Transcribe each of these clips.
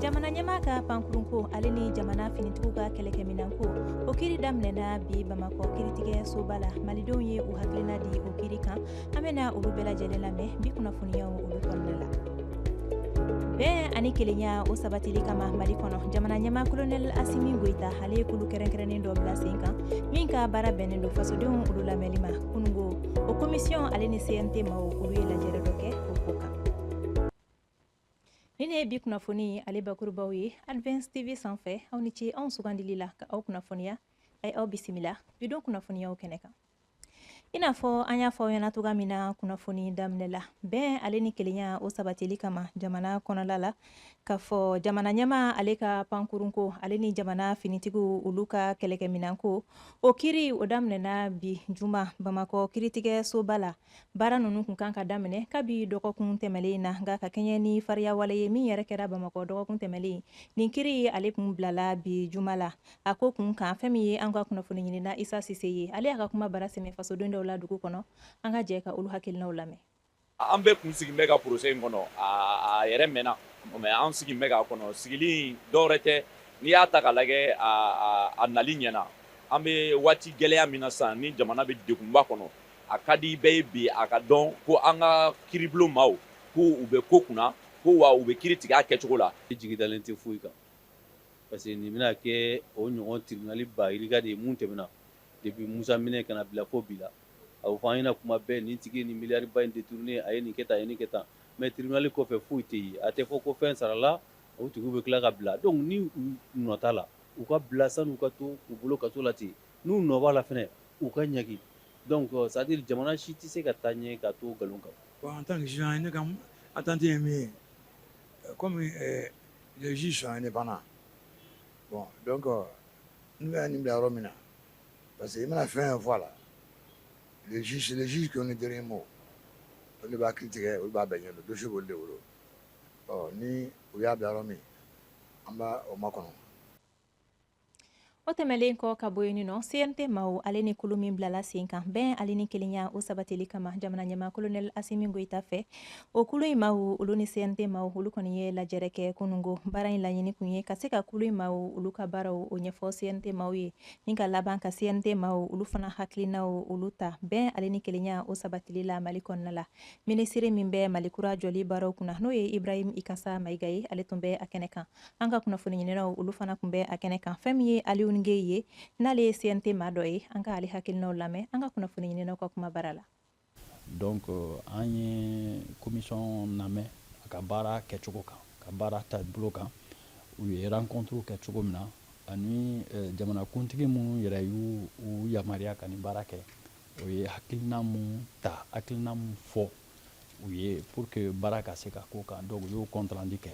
jamana ɲɛma ka pankurunko ale ni jamana finitigiw ka kɛlɛkɛminanko o kiri daminɛna bi bamakɔ kiritigɛ soba la malidenw ye u hakilina di o kiri kan an bɛna olu bɛɛ lajɛlen lamɛn bi kunnafoniyaw olu kɔnɔna la bɛn ani kelenya o sabatili kama mali kɔnɔ jamana ɲɛma kolonɛli asimi goyita ale ye kulu kɛrɛnkɛrɛnnen dɔ bila sen kan min ka baara bɛnnen don fasodenw olu lamɛnli ma kunungo o komisiyɔn ale ni cnt maw olu ye lajɛrɛ dɔ kɛ o ko kan Ninnu ye bi kunnafoni ale bakurubaw ye Advance TV sanfɛ aw ni ce anw sugandili la ka aw kunnafoniya aw aw bisimila bidon kunnafoniyaw kɛnɛ kan i n'a fɔ an y'a fɔ aw ɲɛna cogoya min na kunnafoni daminɛ la bɛn ale ni kelenya o sabatili kama jamana kɔnɔla la k'a fɔ jamana ɲɛma ale ka pankurunko ale ni jamana finitigiw olu ka kɛlɛkɛminanko o kiri o daminɛna bi juma bamakɔ kiritigɛ soba la baara ninnu kun kan ka daminɛ kabi dɔgɔkun tɛmɛlen na nka ka kɛɲɛ ni fariyawale ye min yɛrɛ kɛra bamakɔ dɔgɔkun tɛmɛlen nin kiri ye ale kun bilala bi juma la a ko kun kan fɛn min ye an ka kunnafoni ɲinina isa sise ye ale y'a ka kuma bara sɛmɛ fasoden dɔw la dugu kɔnɔ an ka jɛ ka olu hakilinaw lamɛn an bɛɛ kun sigin bɛ ka procès in kɔnɔ a yɛrɛ mɛnna mais an sigin bɛ k'a kɔnɔ sigili dɔwɛrɛ tɛ n'i y'a ta ka lajɛ a nali ɲɛna an bɛ waati gɛlɛya min na sisan ni jamana bɛ degunba kɔnɔ a ka di bɛɛ ye bi a ka dɔn ko an ka kiribulon maaw ko u bɛ ko kunna ko wa u bɛ kiri tigɛ a kɛcogo la i jigi dalen tɛ foyi kan parce que nin bɛna kɛ o ɲɔgɔn tribunali ba yirika de ye mun tɛmɛna depuis Musa minɛ ka na bila fo bi la a bɛ fɔ an ɲɛna kuma bɛɛ nin tigi ye nin miliyari ba in détourné a ye nin kɛ tan a ye nin kɛ tan mais tribunali kɔfɛ foyi tɛ ye a tɛ fɔ ko fɛn sarala o tigiw bɛ tila ka bila donc ni u nɔ t'a la u ka bila san'u ka to u bolo kaso la ten N'u nɔ b'a la fana u ka ɲaga dɔn kɔ sadi jamana si tɛ se ka taa ɲɛ ka to nkalon kan bon an tan ni jan ne ka a tan tɛ ye min ye kɔmi ji son ne banna bɔn dɔn kɔ n bɛ nin bila yɔrɔ min na parce que i bɛna fɛn fɔ a la jisiji jɔ ni dɔrɔn ma o de b'a ki tigɛ o b'a bɛn ɲɛ don dususi boli de wolo ɔ ni u y'a bila yɔrɔ min an b' o ma kɔnɔ o tɛmɛlen kɔ ka bɔ yen nɔ cnt maw ale ni kulu min bilala sen kan bɛn ale ni kelenya o sabatili kama jamana ɲɛma kolonɛl asimi goyita fɛ o kulu in maw olu ni cnt maw olu kɔni ye lajɛrɛ kɛ kunungo baara in laɲini kun ye ka se ka kulu in maw olu ka baaraw o ɲɛfɔ cnt maw ye ni ka laban ka cnt maw olu fana hakilinaw olu ta bɛn ale ni kelenya o sabatili la mali kɔnɔna la minisiri min bɛ mali kura jɔli baaraw kunna n'o ye ibrahim ikasa mayiga ye ale tun bɛ a kɛnɛ kan an ka kunnafoni ɲininaw olu fana tun bɛ a kɛnɛ kan fɛn min ye Alioune Guèye ye n'ale ye CNT maa dɔ ye an ka ale hakilinaw lamɛn an ka kunnafoni ɲininaw ka kuma bara la donc an ye commission lamɛn a ka baara kɛcogo kan a ka baara taabolo kan u ye rencontrew kɛ cogo min na ani eh, jamanakuntigi min yɛrɛ y'u yamaruya ka nin baara kɛ o ye hakilina mun ta hakilina mun fɔ u ye pour que baara ka se ka k'o kan donc u y'o compte rendu kɛ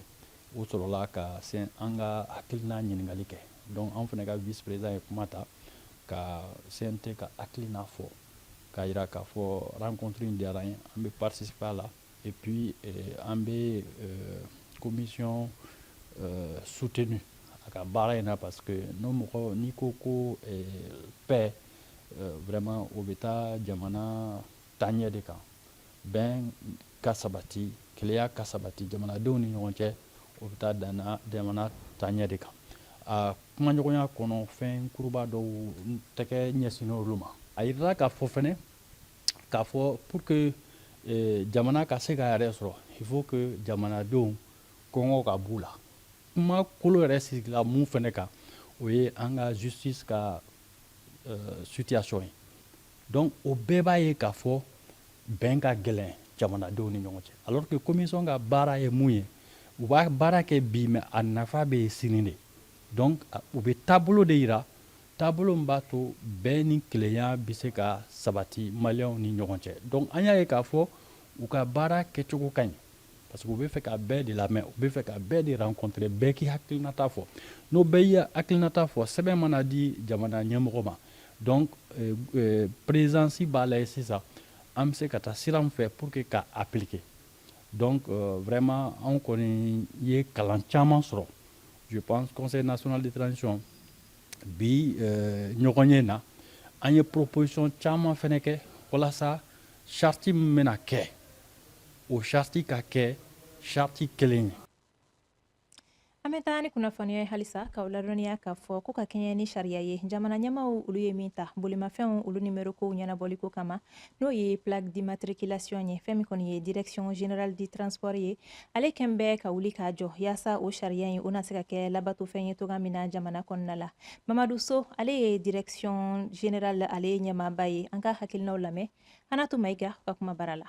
u sɔrɔla ka se an ka hakilina ɲininkali kɛ donc an fana ka vice président ye kuma ta ka CNT ka hakilina fɔ k'a jira k'a fɔ rencontre in diyara an ye an bɛ participer a la et puis euh, an bɛ euh, commission euh, soutenu a ka baara in na parce que n'o mɔgɔ n'i ko ko paix vraiment o bɛ taa jamana Taɲɛ de kan. Bɛn ka sabati, kelenya ka sabati jamanadenw ni ɲɔgɔn cɛ, o bɛ taa jamana taɲɛ de kan. A kumaɲɔgɔnya kɔnɔ, fɛn kuruba dɔw tɛgɛ ɲɛsinnen olu ma. A jirala k'a fɔ fana k'a fɔ pour que jamana ka se k'a yɛrɛ sɔrɔ, il faut que jamanadenw kɔngɔ ka b'u la. Kuma kolo yɛrɛ sigila mun fana kan, o ye an ka justice ka situation ye. Donc o bɛɛ b'a ye k'a fɔ bɛn ka gɛlɛn jamanadenw ni ɲɔgɔn cɛ alors que commission ka baara ye mun ye u b'a baara kɛ bi mais a nafa bɛ ye sini de donc u bɛ taabolo de jira taabolo min b'a to bɛn ni kelenya bɛ se ka sabati maliyɛnw ni ɲɔgɔn cɛ donc an y'a ye k'a fɔ u ka baara kɛcogo ka ɲi Parce que u bɛ fɛ ka bɛɛ de lamɛn u bɛ fɛ ka bɛɛ de rencontrer bɛɛ k'i hakilinata fɔ n'o bɛɛ y'i hakilinata fɔ sɛbɛn mana di jamana ɲɛmɔgɔ ma donc euh, euh, présidence b'a lajɛ sisan an bɛ se ka taa sira min fɛ pour que k'a appliquer donc euh, vraiment anw kɔni ye kalan caman sɔrɔ je pense conseil national de transition bi euh, ɲɔgɔnye na an ye proposition caman fana kɛ walasa charte min bɛna kɛ O charte ka kɛ charte kelen ye an bɛ taa ni kunnafoniya ye halisa k'aw ladɔnniya k'a fɔ ko ka kɛɲɛ ni sariya ye jamana ɲɛmaw olu ye min ta bolimafɛnw olu nimero kow ɲɛnabɔliko kama n'o ye plaque d'immatriculation ye fɛn min kɔni ye direction générale du transport ye ale kɛn bɛ ka wuli k'a jɔ yaasa o sariya in o na se ka kɛ labatofɛn ye cogo min na jamana kɔnɔna la mamadu so ale ye direction générale ale ɲɛmaaba ye an k'a hakilinaw lamɛn Anatu Mayiga ka kuma bara la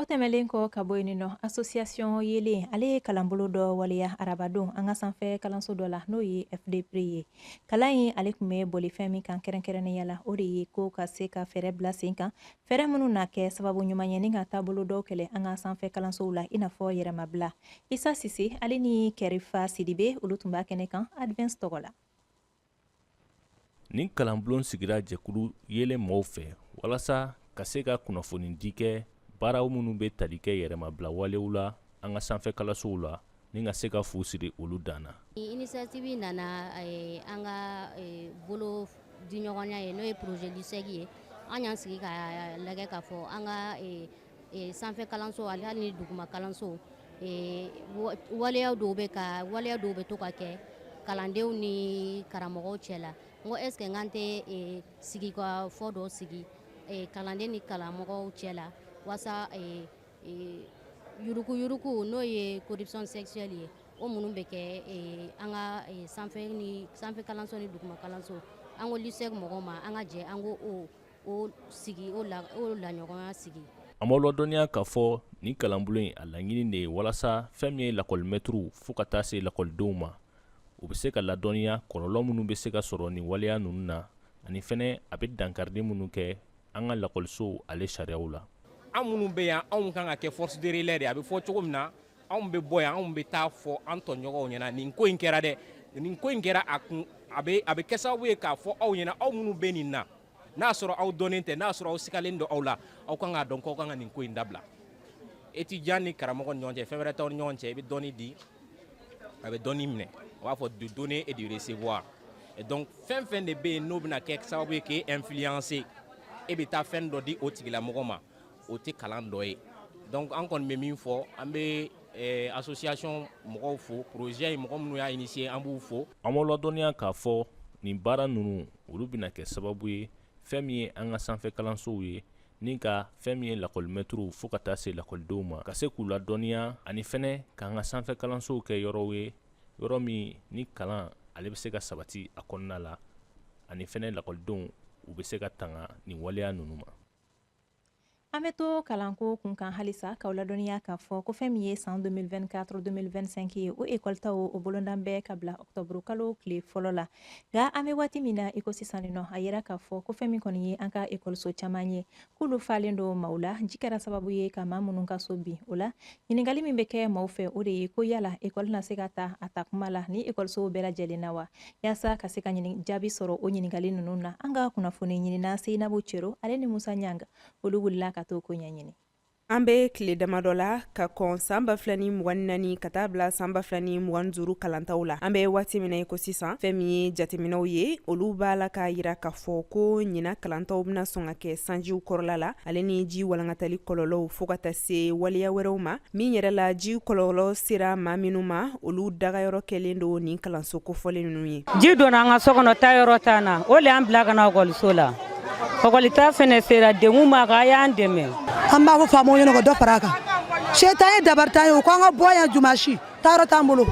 O tɛmɛnlen kɔ ka bɔ yen nɔ association yeelen ale ye kalanbolo dɔ waleya arabadon an ka sanfɛ kalanso dɔ la n'o ye FDPRI ye kalan in ale tun bɛ boli fɛn min kan kɛrɛnkɛrɛnnenya la o de ye ko ka se ka fɛɛrɛ bila sen kan fɛɛrɛ minnu na kɛ sababu ɲuman ye ni ka taabolo dɔw kɛlɛ an ka sanfɛ kalansow la i n'a fɔ yɛrɛmabila Isa Sise ale ni Kɛrifa Sidibe olu tun b'a kɛnɛ kan Advance tɔgɔ la nin kalanbulon sigira jɛkulu yeelen mɔgɔw fɛ walasa ka se ka kunnafoni di kɛ baaraw minnu bɛ tali kɛ yɛrɛmabila walew la an ka sanfɛ kalansow la ni ka se ka fu siri olu dan na. Initiative nana eh, an ka eh, bolodiɲɔgɔnya ye n'o ye projet LUCEG ye an y'an sigi ka lajɛ k'a fɔ an ka eh, ee sanfɛ kalanso ani hali ni duguma kalanso ee waleya dɔw bɛ ka waleya dɔw bɛ to ka kɛ kalandenw ni karamɔgɔw cɛ la n ko est ce que n k'an tɛ ee sigikafɔ dɔ sigi ee kalanden ni karamɔgɔw cɛ la walasa ee ee yuruku yuruku n'o ye corruption sexuelle ye o minnu bɛ kɛ ee an ka ee sanfɛ ni sanfɛ kalanso ni duguma kalanso an ko LUCEG mɔgɔw ma an ka jɛ an ko o An b'aw ladɔnniya k'a fɔ nin kalanbulon in a laɲini de ye walasa fɛn min ye lakɔlimɛturuw fo ka taa se lakɔlidenw ma u bɛ se ka ladɔnniya kɔlɔlɔ minnu bɛ se ka sɔrɔ nin waleya ninnu na ani fɛnɛ a bɛ dankarili minnu kɛ an ka lakɔlisow ale sariyaw la an minnu bɛ yan anw kan ka kɛ force de relais de a bɛ fɔ cogo min na anw bɛ bɔ yan anw bɛ taa fɔ an tɔɲɔgɔnw ɲɛna nin ko in kɛra dɛ nin ko in kɛra a kun a bɛ a bɛ kɛ sababu ye k'a fɔ aw ɲɛna aw minnu bɛ nin na n'a sɔrɔ aw dɔnnen tɛ n'a sɔrɔ aw sigalen don aw la aw kan k'a dɔn k'aw kan ka nin ko in dabila étudiant ni karamɔgɔ ni ɲɔgɔn cɛ fɛn wɛrɛ t'aw ni ɲɔgɔn cɛ i bɛ dɔnni di a bɛ dɔnni minɛ u b'a fɔ du donner et du recevoir et donc fɛn fɛn de bɛ yen n'o bɛna kɛ sababu ye k'e influencer e bɛ taa fɛn dɔ di o tigilamɔgɔ ma o tɛ kalan dɔ ye donc an kɔni bɛ min fɔ an bɛ eh, association mɔgɔw fo projet in mɔgɔ minnu y'a initier an b'u fo an b'aw ladɔnniya k'a fɔ nin baara ninnu olu bɛna kɛ sababu ye fɛn min ye an ka sanfɛ kalansow ye ni ka fɛn min ye lakɔlimɛtiriw fo ka taa se lakɔlidenw ma ka se k'u ladɔnniya ani fɛnɛ k'an ka sanfɛ kalansow kɛ yɔrɔw ye yɔrɔ min ni kalan ale bɛ se ka sabati a kɔnɔna la ani fɛnɛ lakɔlidenw u bɛ se ka tanga nin waleya ninnu ma An bɛ to kalanko kun kan halisa k'aw ladɔnniya k'a fɔ ko fɛn min ye san 2024-2025 ye o ekɔlita o bolodalen bɛ ka bila octobre kalo tile fɔlɔ la nka an bɛ waati min na i ko sisan nɔ a yira k'a fɔ ko fɛn min kɔni ye an ka ekɔliso caman ye k'olu falen don maaw la ji kɛra sababu ye ka maa minnu ka so bin o la ɲininkali min bɛ kɛ maaw fɛ o de ye ko yala ekɔli na se ka ta a ta kuma la ni ekɔlisow bɛɛ lajɛlen na wa Yaasa ka se ka jaabi sɔrɔ o ɲininkali ninnu na an ka kunnafoni ɲinina seyinabu cero ale ni musa ɲaga olu wulila ka t'o ko ɲɛɲini an bɛ tile damadɔ la ka kɔn san ba 2 ni mugan ni naani ka taa bila san ba 2 ni mugan duuru kalantaw la an bɛ waati min na i ko sisan fɛn min ye jateminɛw ye olu b'a la k'a jira k'a fɔ ko ɲinan kalantaw bɛna sɔn ka kɛ sanjiw kɔrɔla la ale ni ji walankatali kɔlɔlɔw fo ka taa se waleya wɛrɛw ma min yɛrɛ la ji kɔlɔlɔ sera maa minnu ma olu dagayɔrɔ kɛlen don nin kalanso kofɔlen ninnu ye ji donna an ka so kɔnɔ taayɔrɔ t'an na o le an bila ka na ɔkɔliso la ɔkɔlita fɛnɛ sera degun b'an kan a y'an dɛmɛ an b'a fɔ faamaw ɲɛna ka dɔ fara a kan se t'an ye dabari t'an ye u ko an ka bɔ yan jumasi taayɔrɔ t'an bolo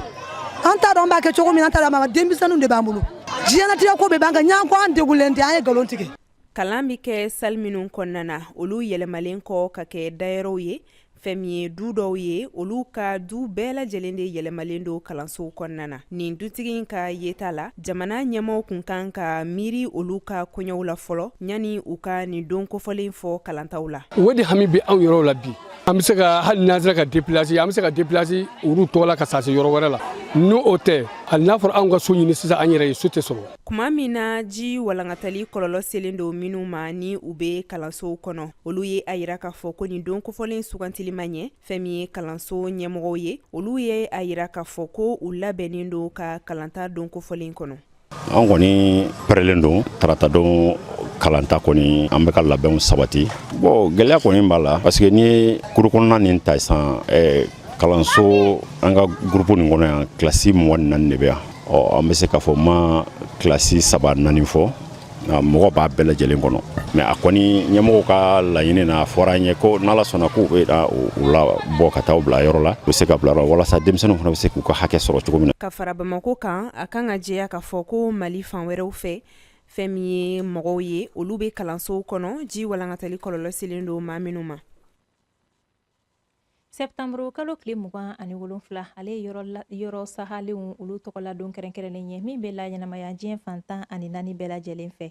an t'a dɔn an b'a kɛ cogo min an t'a dɔn denmisɛnninw de b'an bolo diɲɛnatigɛ ko bɛɛ b'an kan n'an ko an degunlen tɛ an ye nkalon tigɛ kalan bɛ kɛ sali minnu kɔnɔna na olu yɛlɛmalen kɔ ka kɛ dayɔrɔw ye fɛn min ye du dɔw ye olu ka du bɛɛ lajɛlen de yɛlɛmalen don kalansow kɔnɔna na nin dutigi in ka yeta la jamana ɲɛmɔgɔw kun kan ka miiri olu ka koɲɛw la fɔlɔ yanni u ka nin don kofɔlen fɔ kalantaw la o de hami bɛ anw yɛrɛw la bi an bɛ se ka hali n'an sera ka deplasi an bɛ se ka deplasi olu tɔgɔ la ka taa se yɔrɔ wɛrɛ la ni o tɛ hali n'a fɔra anw ka so ɲini sisan an yɛrɛ ye so tɛ sɔrɔ Tuma min na ji walankatali kɔlɔlɔ selen don minnu ma ni u bɛ kalansow kɔnɔ olu ye a jira k'a fɔ ko nin don kofɔlen sugantili ma ɲɛ fɛn min ye kalanso ɲɛmɔgɔw ye olu ye a jira k'a fɔ ko u labɛnnen don ka kalanta don kofɔlen kɔnɔ an kɔni pɛrɛlen don taratadon kalanta kɔni an bɛ ka labɛnw sabati bɔn gɛlɛya kɔni b'a la parce que n'i ye kuru kɔnɔna nin ta sisan kalanso an ka gurupu nin kɔnɔ yan kilasi mugan ni naani de bɛ yan ɔ an bɛ se k'a fɔ ma kilasi saba naani fɔ mɔgɔ b'a bɛɛ lajɛlen kɔnɔ mɛ a kɔni ɲɛmɔgɔw ka laɲini na a fɔra an ye ko n'ala sɔnna k'u bɛ u labɔ ka taa u bila yɔrɔ la u bɛ se ka bila yɔrɔ walasa denmisɛnninw fana bɛ se k'u ka hakɛ sɔrɔ cogo min na ka fara bamakɔ kan a kan ka jɛya k'a fɔ ko mali fan wɛrɛw fɛ fɛn min ye mɔgɔw ye olu bɛ kalansow kɔnɔ ji walankatali kɔlɔlɔ selen don maa minnu ma Sɛtanburu kalo tile mugan ani wolonwula ale yɔrɔ la yɔrɔ sahalenw olu tɔgɔ la don kɛrɛnkɛrɛnnen ye min bɛ laɲɛnamaya diɲɛ fan tan ani naani bɛɛ lajɛlen fɛ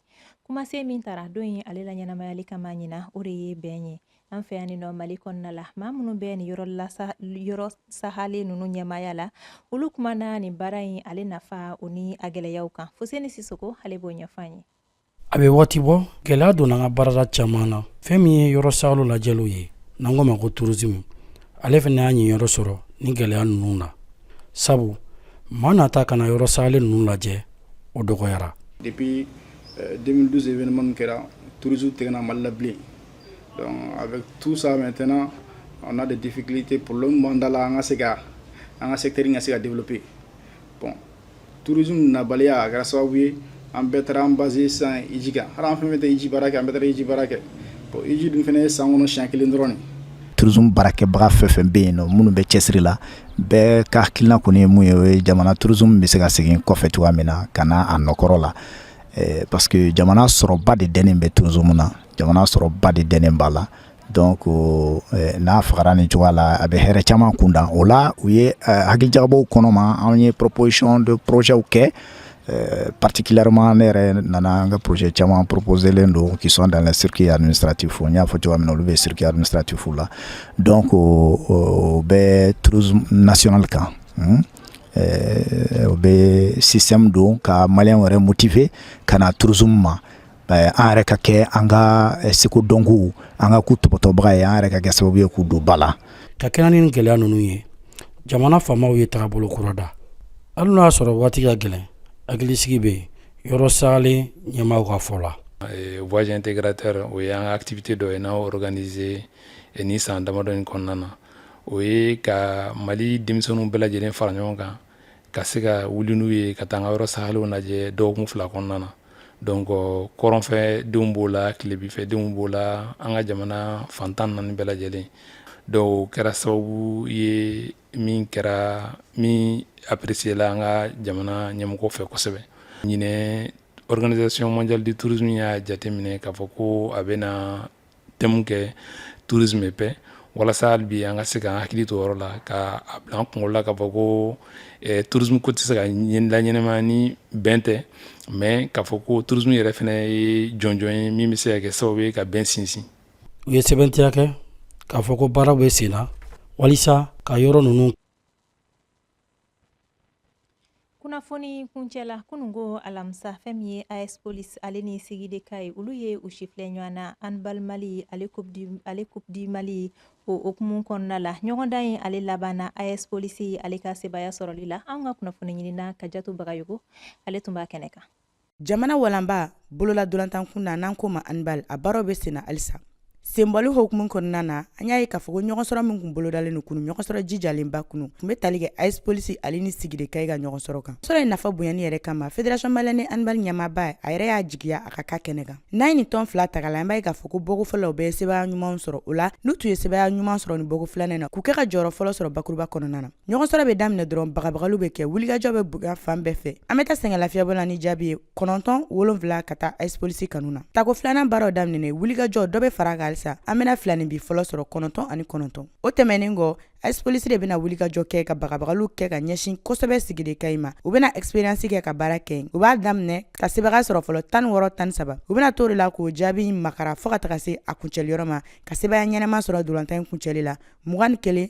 kumasen min tara don in ale laɲɛnamayali kama ɲinan o de ye bɛn ye an fɛ yanninɔ mali kɔnɔna la maa minnu bɛ nin yɔrɔ la yɔrɔ sahalen ninnu ɲɛmaaya la olu kumana nin baara in ale nafa o ni a gɛlɛyaw kan fuseni sisɔkɔ ale b'o ɲɛfɔ an ye a bɛ waati bɔ gɛlɛya donna an ka baarada caman na fɛn min ye yɔrɔ saalen lajɛliw ye n'an k'o ma ko turisimi ale fana y'a niyɔrɔ sɔrɔ ni gɛlɛya ninnu na sabu maa nata ka na yɔrɔ saalen ninnu lajɛ o dɔgɔyara depuis 2012 euh, événement min kɛra tourisme tɛ ka na mali la bilen donc avec tout ça maintenant on a des difficultés problème b'an da la an ka se ka an ka secteur in ka se ka développer bon tourisme nabaliya a kɛra sababu ye an bɛɛ taara an basé san iji kan hali an fɛn tɛ iji baara kɛ an bɛ iji baara kɛ iji dun fana ye san kɔnɔ siɲɛ kelen dɔrɔn tourisme baarakɛbaga fɛn fɛn bɛ yen nɔ minnu bɛ cɛsiri la bɛɛ ka hakilina kɔni ye mun ye o ye jamana tourisme bɛ se ka segin kɔfɛ cogoya min na ka na a nɔkɔrɔ la parce que jamana sɔrɔba de dɛnen bɛ tourisme na jamana sɔrɔba de dɛnen b'a la Don ko n'a fagara ni cogoya la a bɛ hɛrɛ caman kunda o la u ye hakilijabaw kɔnɔma anw ye ppsiyɔn don porozw kɛ patikilarema ne yɛrɛ nana an ka pze caman ppzelen don kisɔn dan sirike ani sarati fo n y'a fɔ cogoya min olu bɛ siri ni saratifu la dɔn ko bɛ tz nasonli kan u bɛ sisan don ka mali wɛrɛ motifɛ ka na turuz ma an yɛrɛ ka kɛ an ka seko dɔnkow an ka k'u tɔpɔtɔbaga ye an yɛrɛ ka kɛ sababu ye k'u don ba la ka kɛɲɛ ni gɛlɛya ninnu ye jamana faamaw ye tagabolo kura da hali n'a y'a sɔrɔ waati ka gɛlɛn hakilisigi bɛ yɔrɔ saalen ɲɛmaaw ka fɔ la voyage intégrateur o ye an ka activité dɔ ye n'a organiser ni san damadɔ in kɔnɔna na o ye ka mali denmisɛnninw bɛɛ lajɛlen fara ɲɔgɔn kan ka se ka wuli n'u ye ka taa an ka yɔrɔ saalenw lajɛ dɔgɔkun fila kɔnɔna na donc kɔrɔnfɛ denw b'o la tilebinfɛ denw b'o la an ka jamana fan tan naani bɛɛ lajɛlen donc o kɛra sababu ye min kɛra min appréciéla an ka jamana ɲɛmɔgɔ fɛ kosɛbɛ ɲinɛ organisation mondiale du tourisme y'a jateminɛ k'a fɔ ko a bɛ na thème kɛ tourisme et paix walasa hali bi an ka se k'an hakili to yɔrɔ la ka a bila an kunkolo la k'a fɔ ko tourisme ko tɛ se ka laɲɛnamaya ni bɛn tɛ mais k'a fɔ ko tourisme yɛrɛ fana ye jɔnjɔn ye min bɛ se ka kɛ sababu ye ka bɛn sinsin u ye sɛbɛntiya kɛ k'a fɔ ko baara bɛ sen na walisa ka yɔrɔ ninnu kunnafoni kuncɛ la kununko alamisa fɛn min ye AS Police ale ni Sigi de Kayes olu ye u sifilɛ ɲɔgɔn na handball mali ale coupe du mali o okumu kɔnɔna la ɲɔgɔndan in ale labanna AS Police ale ka sebaaya sɔrɔli la an ka kunnafoni ɲinina kajatu bagayogo ale tun b'a kɛnɛ kan jamana walanba bolola dolantan kun na n'an ko ma handball a baaraw bɛ senna halisa senbɔli hokumu kɔnɔna na an y'a ye k'a fɔ ko ɲɔgɔnsɔrɔ min kun bolodalen no kunu ɲɔgɔnsɔrɔ jijalenba kunu tun be tali kɛ as police ale ni sigui de kayes ka ɲɔgɔnsɔrɔ kan sɔrɔ in nafa bonyani yɛrɛ kama fédération malienne handball ɲɛmaaba a yɛrɛ y'a jigiya a ka ka kɛnɛ kan n'an ye nin tɔn fila tagala an b'a ye k'a fɔ ko bɔko fɔlɔ la u bɛɛ ye sebaya ɲuman sɔrɔ o la n'u tun ye sebaya ɲuman sɔrɔ ni bɔko filanan na k'u kɛ ka jɔyɔrɔ fɔlɔ sɔrɔ bakuruba kɔnɔna na ɲɔgɔn sɔrɔ bɛ daminɛ dɔrɔn bagabagaliw bɛ kɛ wulikajɔ bɛ bugun fan bɛɛ fɛ an bɛ taa sɛgɛnlafiɲɛbɔ la ni jaabi ye kɔnɔntɔn wolonfila ka taa as police kanu na tako filanan baaraw daminɛ wulikajɔ dɔ bɛ fara kan halisa an bɛna filaninbin fɔlɔ sɔrɔ kɔnɔntɔn ani kɔnɔntɔn o tɛmɛnin kɔ as police de bɛna wulikajɔ kɛ ka bagabagaliw kɛ ka ɲɛsin kosɛbɛ sigui de kayes ma u bɛna expérience kɛ ka baara kɛ u b'a daminɛ ka sebaga sɔrɔ fɔlɔ tan ni wɔɔrɔ tan saba u bɛna to o de la k'o jaabi makara fɔɔ ka taga se a kuncɛliyɔrɔ ma ka sebaya ɲɛnama sɔrɔ dolantan kuncɛli la mugan ni kelen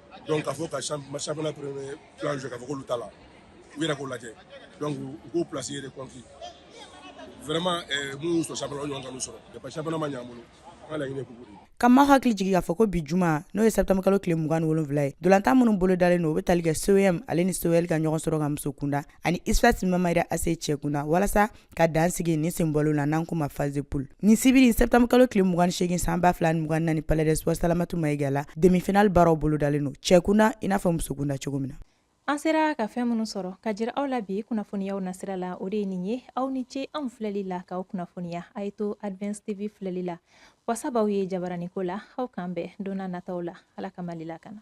donc k'a fɔ ka championnat premier plan jɔ k'a fɔ k'olu t'a la u yɛrɛ k'o lajɛ donc u k'o place yɛrɛ kɔnki vraiment eh, minnu y'u sɔrɔ championnat o ɲɔgɔn kan'u sɔrɔ depa championnat ma ɲɛ an bolo an ka laɲini ye coupe de ka maaw hakili jigi k'a fɔ ko bi juma n'o ye septembre kalo tile mugan ni wolonfila ye dolantan minnu bolo dalen don u be tali kɛ com ale ni col ka ɲɔgɔn sɔrɔ kan muso kunda ani usfas mamahira ac cɛ kunda walasa ka dan sigi ni senbɔli la n'an ko ma phase de poule ni sibiri septembre kalo tile mugan segin san ba fila mugan naani palais des sports salamatu mayiga la demi-finale baaraw bolodalen don cɛkunda i n'a fɔ musokunda cogo min na an sera ka fɛn minnu sɔrɔ ka jira aw la bi kunnafoniyaw nasira la o de ye nin ye aw ni ce anw filɛli la k'aw kunnafoniya a ye to advance tv filɛli la wasa b'aw ye jabaraniko la aw k'an bɛn don nataw la ala ka mali lakana